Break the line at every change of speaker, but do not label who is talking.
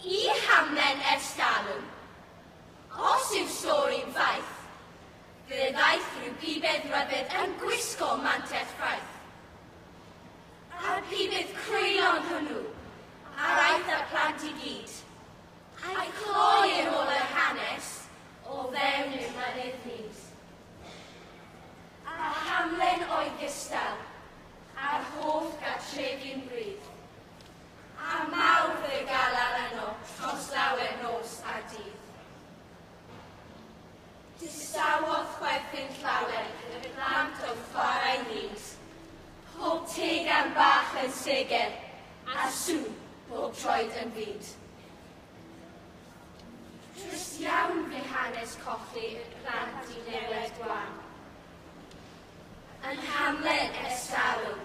Y hamlen ers talwm. Os yw stori'n faith, fe ddaeth rhyw bibedd rybudd yn gwisgo mantell fraith. A'r pibedd crwylon hwnnw, a'r aeth â'r plant i gyd, a'i chloi yn ôl yr hanes o fewn ein mynydd nydd. A'r hamlen oedd gystal â'r holl gartrefi'n wrydd. Ar Mawrth fe galar yno tros lawer nos a dydd. Distawodd chwerthin llawer y plant oedd chwarae hyd. Pob tegan bach yn seger, a sŵn bob troed yn fud. Trist iawn fe hanes colli y plant i newed gwan. Yn hamlen ers talwm,